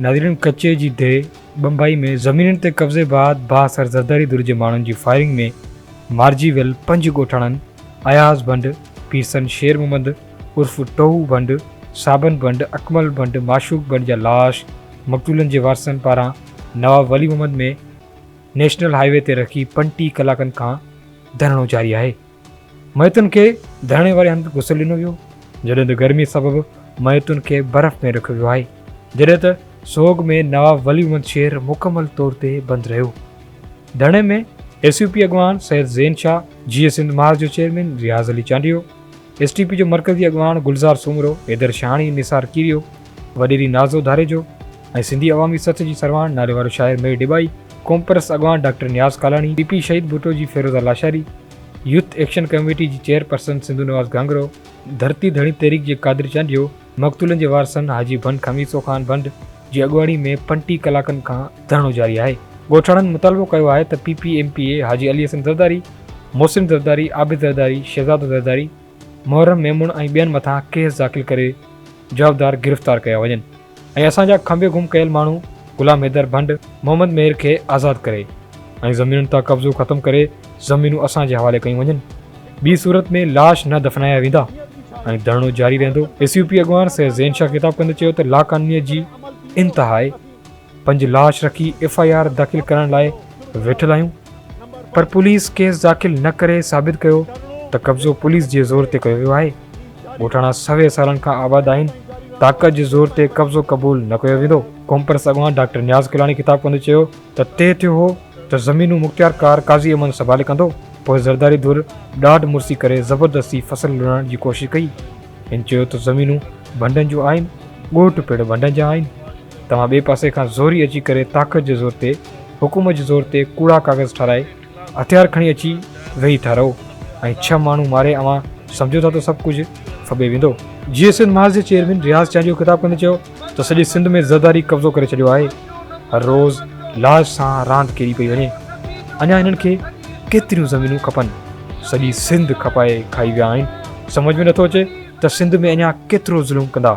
ناظرين ڪچي جي ديهه بمبئي ۾ زمينن تي قبضي بعد بااثر زرداري ڌر جي ماڻهن جي فائرنگ ۾ مارجي ويل پنج ڳوٺاڻن اياز ڀنڊ، پيرسن شير محمد عرف ٽوهو ڀنڊ، صابن ڀنڊ، اڪمل ڀنڊ، معشوق ڀنڊ جا لاش مقتولن جي وارثن پاران Nawab Wali Muhammad ۾ national highway تي رکي پنٽيهه ڪلاڪن کان ڌرڻو جاري آهي. ميتن کي ڌرڻي واري هنڌ غسل ڏنو ويو، جڏهن ته گرمي سبب ميتن کي برف ۾ رکيو ويو آهي، جڏهن ته سوڳ ۾ نواب ولي محمد شير مڪمل طور تي بند رهيو. ڌرڻي ۾ ايس يو پي اڳواڻ سيد زين شاهه، جيئي سنڌ محاذ جو chairman Riaz Ali Chandio, S T P جو مرڪزي اڳواڻ گلزار سومرو، حيدر شاهاڻي، نثار ڪيريو، وڏيري نازو ڌاريجو ۽ سنڌي عوامي سٿ جي سرواڻ ناليوارو شاعر مير ڏٻائي، قومپرست اڳواڻ doctor Niaz Kalani, P P Shaheed Bhutto جي Feroza Lashari, youth action committee جي چيئر پرسن سنڌو نواز گهانگهرو، ڌرتي ڌڻي تحريڪ جي قادر چانڊيو، مقتولن جي وارثن حاجي ڀنڊ خميسو خان ڀنڊ جي اڳواڻي ۾ پنٽيهه ڪلاڪن کان ڌرڻو جاري آهي. ڳوٺاڻن مطالبو ڪيو آهي ته P P M P A Haji Ali Hassan Zardari, Mohsin Zardari, Abid Zardari, Shahzado Zardari, محرم ميمڻ ۽ ٻين مٿان ڪيس داخل ڪري جوابدار گرفتار ڪيا وڃن ۽ اسان جا کنڀي گم ڪيل ماڻهو غلام حيدر ڀنڊ، محمد مير کي آزاد ڪري ۽ زمينن تان قبضو ختم ڪري زمينون اسان جي حوالي ڪيون وڃن ٻي صورت ۾ لاش نه دفنايا ويندا ۽ ڌرڻو جاري رهندو. ايس يو پي اڳواڻ سيد زين شاهه خطاب ڪندي چيو ته لاقانونيت جي انتها آهي. پنهنجي لاش رکي ايف آء آر داخل ڪرائڻ لاء ويٺل آهيون پر پوليس ڪيس داخل نه ڪري ثابت ڪيو ته قبضو پوليس جي زور تي ڪيو ويو آهي ڳوٺاڻا سوين سالن کان آباد آهن طاقت جي زور تي قبضو قبول نه ڪيو ويندو قومپرست اڳواڻ ڊاڪٽر نياز ڪلاڻي خطاب ڪندي چيو ته طئي ٿيو هو ته زمينون مختيار ڪار قاضي امن سنڀالي ڪندو پوء زرداري ڌر ڏاڍ مرسي ڪري زبردستي فصل لڻڻ جي ڪوشش ڪئي هن چيو ته زمينون ڀنڊن جون آهن ڳوٺ پڻ ڀنڊن جا آهن توهان ٻئي پاسي کان زوري اچي ڪري طاقت جي زور تي حڪومت جي زور تي ڪوڙا ڪاغذ ٺاراهي هٿيار کڻي اچي ويهي ٿا رهو ۽ ڇهه ماڻهو ماري اوهان سمجهو ٿا ته سڀ ڪجهه ڦٻي ويندو. جيئي سنڌ محاذ جي چيئرمين رياض چانڊيو خطاب ڪندي چيو ته سڄي سنڌ ۾ زرداري قبضو ڪري ڇڏيو آهي هر روز لاش سان راند ڪيڏي پئي وڃي اڃا هنن کي ڪيتريون زمينون کپن سڄي سنڌ کپائي کائي ويا آهن سمجهه ۾ نٿو اچي ته سنڌ ۾ اڃا ڪيترو ظلم ڪندا.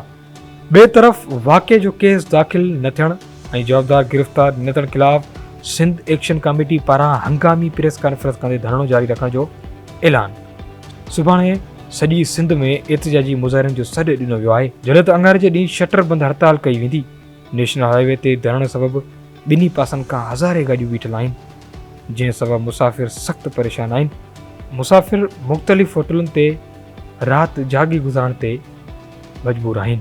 ٻئي طرف واقعي جو ڪيس داخل نه ٿيڻ ۽ جوابدار گرفتار نه ٿيڻ خلاف سنڌ ايڪشن ڪاميٽي پاران هنگامي پريس ڪانفرنس ڪندي ڌرڻو جاري رکڻ جو اعلان سڀاڻي سڄي سنڌ ۾ احتجاجي مظاهرن جو سڏ ڏنو ويو آهي جڏهن ته اڱاري جي ڏينهن شٽر بند هڙتال ڪئي ويندي نيشنل هاء وي تي ڌرڻي سبب ٻنهي پاسن کان هزارين گاڏيون بيٺل آهن جنهن سبب مسافر سخت پريشان آهن. مسافر مختلف هوٽلن تي رات جاڳي گذارڻ تي مجبور آهن.